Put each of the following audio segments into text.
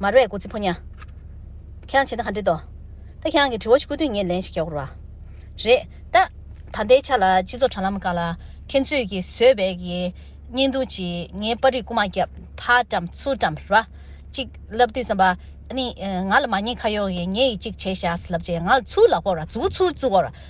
མར་བས་ཀུ་ཙི་ཕོ་ཉྭ། ཁྱེད་རང་བྱེད་ན་ག་འགྲིག་དོ། ད་ཁྱེད་རང་གི་དྲི་བ་ཞིག་བཀོད་དུས་ངས་ལན་ཞིག་རྒྱག་དགོས་པ་རེད། ད། ད་ལྟའི་ཆ་ལ་སྤྱི་ཚོགས་དྲ་ལམ་ཀ་ལ་ཁྱེད་ཚོས་ཀྱི་བཟོས་པའི་གི་བརྙན་ཐུང་གཅིག་ངའི་པར་རིས་རྐུ་མ་རྒྱབ་ཕ་བཀྲམ་ཚུར་བཀྲམ་ར་གཅིག་ལབ་དུས་བསམ་པ། ཨ་ནི། ང་ལ་མ་ཉེས་ཁ་གཡོག་གིས་ངའི་ཡི་གཅིག་བྱས་བཞག་ལབ་རྗེས་ང་ལ་ཚུར་ལག་ཕོག་ར་ཚུར་ཚུར་བཙུགས་བ་ར།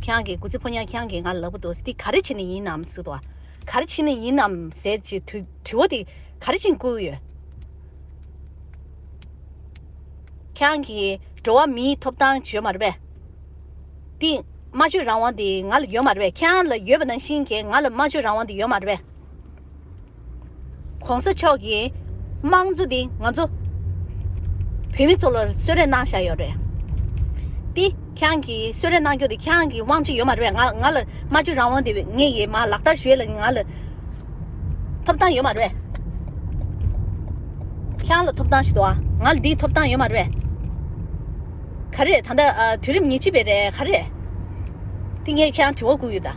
ཁྱེད་ཀྱི་གུ་ཚེ་ཕོ་ཉར་ཁྱེད་ཀྱིས་ང་ལབ་པོ་འདུག་འདི་ག་རེ་བྱེད་ནི་ཡིན་ནམ་ཟེར་དུ། ག་རེ་བྱེད་ནི་ཡིན་ནམ་ཟེར་གྱི་དུས་བོ་འདི་ག་རེ་བྱིན་བསྐུལ་ཡོད། ཁྱེད་ཀྱིས་འགྲོ་བ་མིའི་ཐོབ་ཐང་བརྗོད་མ་རེད་པས། འདི་སྨྲ་བརྗོད་རང་དབང་འདི་ང་ལ་ཡོད་མ་རེད་པས་ཁྱེད་ལ་ཡོད་པ་ནང་བཞིན་གྱི་ང་ལ་སྨྲ་བརྗོད་རང་དབང་འདི་ཡོད་མ་རེད་པས། གོང་ས་མཆོག་གིས་དམངས་གཙོ་འདི་ང་ཚོ་བོད་མི་ཚོ་ལ་གསོལ་རས་གནང་བཞག་ཡོད་རེད་དེ། ཁྱེད་རང་གིས་གསོལ་རས་གནང་རྒྱུ་དེ་ཁྱེད་རང་གི་དབང་ཆ་ཡོད་མ་རེད་པས་ང་ལ་སྨྲ་བརྗོད་རང་དབང་དེ་ངས་ཡེ་མ་ལག་བསྟར་ཞུས་ལ་ང་ལ་ཐོབ་ཐང་ཡོད་མ་རེད། ཁྱེད་རང་ལ་ཐོབ་ཐང་ཞིག་འདུག་ང་ལ་དེའི་ཐོབ་ཐང་ཡོད་མ་རེད། ག་རེད་ད་ལྟ་དུས་རིམ་ཉི་ཅི་པའི་རེད་ག་རེད་དེ་ངས་ཁྱེད་རང་དྲི་བ་བསྐུར་ཡོད་ད།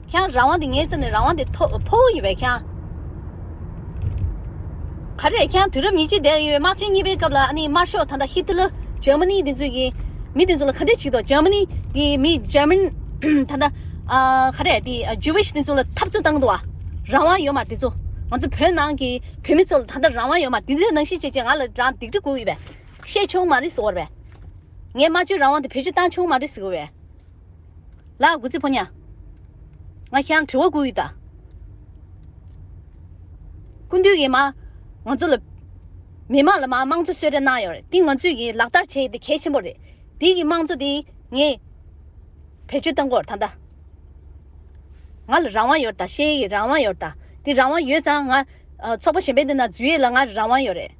ཁྱེད་རང་རང་དབང་དེ་ངའི་རྩེ་ནས་རང་དབང་དེ་ཐོ་ཕོ་བོ་ཡིན་པས་ཁྱེད། ག་རེད་ཁྱེད་དུས་རབས་ཉིས་བརྒྱའི་འདས་ཡོད་དམག་ཆེན་གཉིས་པའི་སྐབས་ལ་ཨ་ནི་དམར་ཤོག་ད་ལྟ་ཧི་ཏི་ལི་ཇར་མ་ནི་དེ་ཚོས་ཀྱི་མི་དེ་ཚོ་ལ་ག་འདྲས་བྱེད་དོ་ཇར་མ་ནི་གི་མི་ཇར་མན་ད་ལྟ་ག་རེད་དེ་ཇུ་ཝིཤ་དེ་ཚོ་ལ་འཐབ་རྩོད་བཏང་འདུག་བ་རང་དབང་ཡོད་མར་དེ་ཚོ་ང་ཚོ་བོད་ནང་གི་བོད་མི་ཚོ་ལ་ད་ལྟ་རང་དབང་ཡོད་མར་དེ་ཚོས་ནང་བཞིན་བྱེད་ཅེས་ང་ལ་རང་སྡིག་སྒྲིབ་གོ་འི་བས་བཤད་ཆོག་མ་རེད་ཟེར་བར་བས། ངས་དམར་གཅོད་རང་དབང་དེ་བེད་སྤྱོད་བཏང་ཆོག་མ་རེད་ཟེར་གོ་བས། ལགས་དགུ་ཚིགས་ཕོ་ཉ། ང་ཁྱེད་རང་དྲི་བ་དགུ་ཡོད་ད། སྐུ་འདུས་ཀྱིས་མ། ང་ཚོ་ལ། མི་དམངས་ལ་མ་དམངས་གཙོ་གསོལ་རས་གནང་ཡོད་རེད་དེ་ང་ཚོས་ཀྱིས་ལག་བསྟར་བྱས་ཡོད་དེ་གལ་ཆེན་པོ་རེད། དེའི་གིས་དམངས་གཙོ་དེ་ངས། བེད་སྤྱོད་བཏང་སྐོར་ད་ལྟ། ང་ལ་རང་དབང་ཡོད་ད་ཤེས་ཡོད་ཀྱི་རང་དབང་ཡོད་ད། དེ་རང་དབང་ཡོད་ཙང་ང། ཚོགས་པ་གཞན་པའི་འདི་ན་འཛུལ་ཡོད་ལ་ང་རང་དབང་ཡོད་རེད།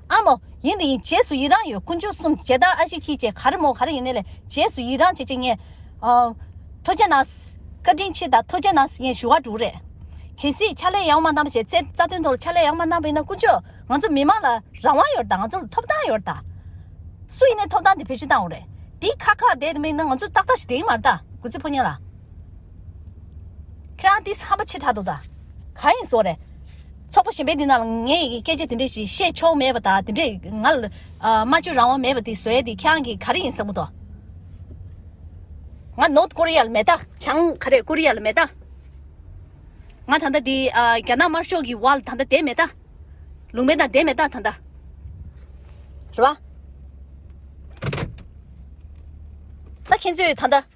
ཨ་མོ། ཡིན་འདི་ཡིན་རྗེས་སུ་ཡི་རང་ཡོད་ཀུན་སྤྱོད་གསུམ་ཇེ་དར་ཨ་ཤི་ཁྱི་བཅས་ག་རེ་མོ་ག་རེ་ཡིན་ནི་ལས་རྗེས་སུ་ཡི་རང་བྱེད་ཅེས་ངས། ཐུགས་རྗེ་གནང། བཀའ་དྲིན་ཆེ་དང་ཐུགས་རྗེ་གནང་ངས་ཞུ་བ་དྲུག་རེད། གལ་སྲིད་ཕྱག་ལས་ཡག་མ་གནང་པ་བྱས་ཚེ་རྩ་དོན་ཐོག་ལ་ཕྱག་ལས་ཡག་མ་གནང་པ་ཡིན་ན་ཀུན་སྤྱོད་ང་ཚོ་མི་དམངས་ལ་རང་དབང་ཡོད་དང་ང་ཚོ་ལ་ཐོབ་ཐང་ཡོད་དང། སུ་ཡིན་ནས་ཐོབ་ཐང་དེ་བེད་སྤྱོད་བཏང་བ་རེད། འདི་ཁག་ཁག་བསྡད་དེ་མིག་ནང་ང་ཚོ་ཏག་ཏག་ཞིག་བསྡད་ཡིན་མ་རེད་ད་གུས་ཚིག་ཕོ་ཉས་ལ། ཁྱེད་རང་དེས་ཧམ་པ་ཆེ་དྲག་འདུག་ད། ག་ཡིན་བཟོ་རེད། ཚོགས་པ་གཞན་པའི་འདི་ན་ལ་ངས་སྐད་ཆ་དེ་འདྲས་ཞིག་བཤད་ཆོག་མེད་པ་དང་དེ་འདྲས་ང་ལ་སྨྲ་བརྗོད་རང་དབང་མེད་པ་དེ་བཟོས་དེ་ཁྱེད་རང་གིས་ག་རེ་ཡིན་བསམ་གི་འདུག། ང་ནོར་ཀོ་རི་ཡ་ལ་མེད་ད། བྱང་ག་རེ་ཀོ་རི་ཡ་ལ་མེད་ད། ང་ད་ལྟ་དེ་རྒྱ་ནག་དམར་ཤོག་གི་བར་ལ་ད་ལྟ་བསྡད་མེད་ད། ལུང་པའི་ནང་བསྡད་མེད་ད་ད་ལྟ། རེད་བ། ད་ཁྱེད་ཚོས་ད་ལྟ།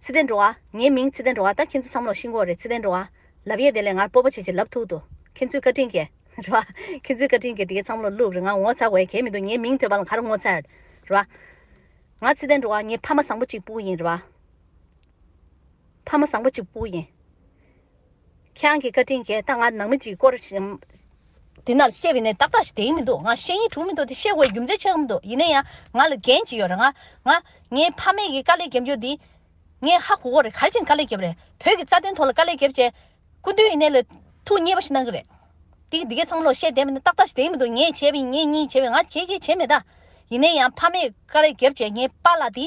ཚེ་ལྡན་འགྲོ་བ། ངའི་མིང་ཚེ་ལྡན་འགྲོ་བ་ད་ཁྱེད་ཚོ་བསམ་ལོག་ཤིང་ཀོག་རེད་ཚེ་ལྡན་འགྲོ་བ། ལབ་ཡས་དེ་ལས་ངར་སྤོབས་པ་ཆེ་ཆེ་ལབ་ཐུག་འདུག་ཁྱེད་ཚོའི་བཀའ་དྲིན་གྱིས། རེད་བ། ཁྱེད་ཚོའི་བཀའ་དྲིན་གྱིས་དེ་གའི་བསམ་བློ་བསླུགས་རེད་ང་ངོ་ཚ་བའི་གལ་མི་འདུག་ངའི་མིང་ཐོས་པ་ལ་གར་ངོ་ཚར། རེད་བ། ང་ཚེ་ལྡན་འགྲོ་བ་ངའི་ཕ་མ་བཟང་པོ་གཅིག་སྤུ་ཡིན་རེད་བ། ཕ་མ་བཟང་པོ་གཅིག་སྤུ་ཡིན། ཁྱེད་རང་གི་བཀའ་དྲིན་གྱིས་ད་ང་ནང་མི་གཅིག་སྐོར་དེ་ནང་བཤད་པའི་ནས་ཏག་ཏག་ཞིག་དེ་ཡིན་མི་འདུག་ང་བཤད་ཡིན་དྲུག་མི་འདུག་དེ་བཤད་དགོས་རྒྱུ་མཚན་ཆེ་གང་མི་འདུག་ཡིན་ན་ཡང་ང་ལ་འགན་ཅིག་ཡོད་རེད་ང་ང་ངའི་ཕ་མེས་ཀྱི་དཀའ་ལས་རྒྱབ་རྒྱུ་འདི་ངས་ཧ་གོ་གོ་རེད་ག་རེ་བྱས་ནས་དཀའ་ལས་རྒྱབ་རེད་བོད་ཀྱི་རྩ་དོན་ཐོག་ལ་དཀའ་ལས་རྒྱབ་བྱས་སྐུ་མདུན་ཡིན་ནའི་ལ་ཐུགས་མཉེས་པ་ཞིག་གནང་གི་རེད་དེ་འདི་གས་ཚང་མ་ལོག་བཤད་བསྡད་པའི་ནས་ཏག་ཏག་ཞིག་དེ་ཡིན་མི་འདུག་ངས་བྱས་པའི་ངེད་གཉིས་བྱས་པའི་ང་གས་གས་བྱས་མེད་ད་ཡིན་ན་ཡང་ཕ་མེས་དཀའ་ལས་རྒྱབ་བྱས་ངའི་པ་ལགས་འདི།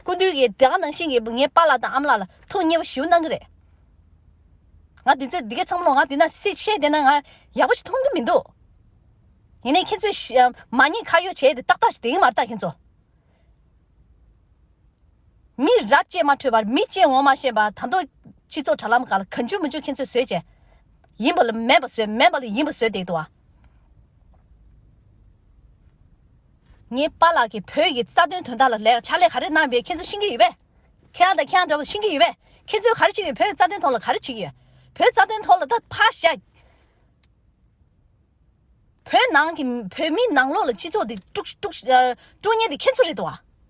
སྐུ་མདུན་གྱིས་དེ་སྔ་ནང་བཞིན་གྱི་ངའི་པ་ལགས་དང་ཨམ་ལགས་ལ་ཐུགས་མཉེས་པ་ཞུ་གནང་གི་རེད། ང་དེ་ཚོས་འདི་གས་ཚང་མ་ང་དེ་ན་སྲིད་བཤད་དེ་ན་ང་ཡག་པོ་ཞིག་མཐོང་གི་མི་འདུག། ཡིན་ནའི་ཁྱེད་ཚོས་མ་ཉེས་ཁ་གཡོག་བྱས་དེ་ཏག་ཏག་ཞིག་དེ་ཡིན་མ་རེད་ད་ཁྱེད་ཚོ། མི་རབས་བཅས་མ་འཕྲོད་པར་མི་བཅས་ངོ་མ་ཤེས་པར་ད་དུང་སྤྱི་ཚོགས་དྲ་ལམ་ག་ལ་ག་འཇུ་མི་འཇུ་ཁྱེད་ཚོས་བཟོས་བྱས་ཡིན་པ་ལ་མེད་པ་བཟོས་མེད་པ་ལ་ཡིན་པ་བཟོས་བསྡད་འདུག་བ། ངའི་པཱ་ལགས་ཀྱིས་བོད་ཀྱི་རྩ་དོན་དོན་དག་ལ་ལས་ཕྱག་ལས་ག་རེ་གནང་བའི་ཁྱེད་ཚོས་ཤེས་ཀྱི་ཡོད་པས། ཁྱེད་རང་དང་ཁྱེད་རང་འདྲ་བོ་ཤེས་ཀྱི་ཡོད་པས་ཁྱེད་ཚོས་ག་རེ་བྱེད་ཀྱི་ཡོད་བོད་རྩ་དོན་ཐོག་ལ་ག་རེ་བྱེད་ཀྱི་ཡོད་བོད་རྩ་དོན་ཐོག་ལ་ད་ཕ་ཤ། བོད་ནང་གི་བོད་མི་ནང་ལོགས་ལ་སྤྱི་ཚོགས་དེ་དཀྲུགས་དཀྲུགས་ཉེན་དེ་ཁྱེད་ཚོ་རེད་དོ།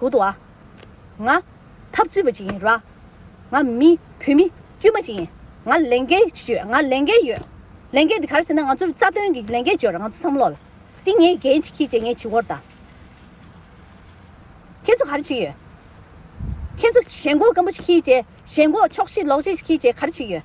ཧུ་ཏུ་ཨ། ང། འཐབ་རྩོད་པ་ཅིག་ཡིན་ར། ང། མི། བུད་མེད། དཀྱུས་མ་ཅིག་ཡིན། ང། ལས་འགན། ཡོད། ང། ལས་འགན། ཡོད། ལས་འགན་དེ་ག་རེ་ཟེར་ན་ང་ཚོའི་རྩ་དོན་གྱི་ལས་འགན་བརྗོད་ར་ང་ཚོ་བསམ་བློ་ལ། འདི་ངས་འགན་ཅིག་གྱིས་ཅེས་ངས་བྱི་བོར་བལྟ། ཁྱེད་ཚོ་ག་རེ་བྱེད་ཀྱི་ཡོད། ཁྱེད་ཚོ་ཞེན་ཁོག་སྐམ་པོ་ཅིག་གྱིས་ཅེས་ཞེན་ཁོག་ཕྱོགས་བཞི་ལོག་བཞི་ཅིག་གྱིས་ཅེས་ག་རེ་བྱེད་ཀྱི་ཡོད།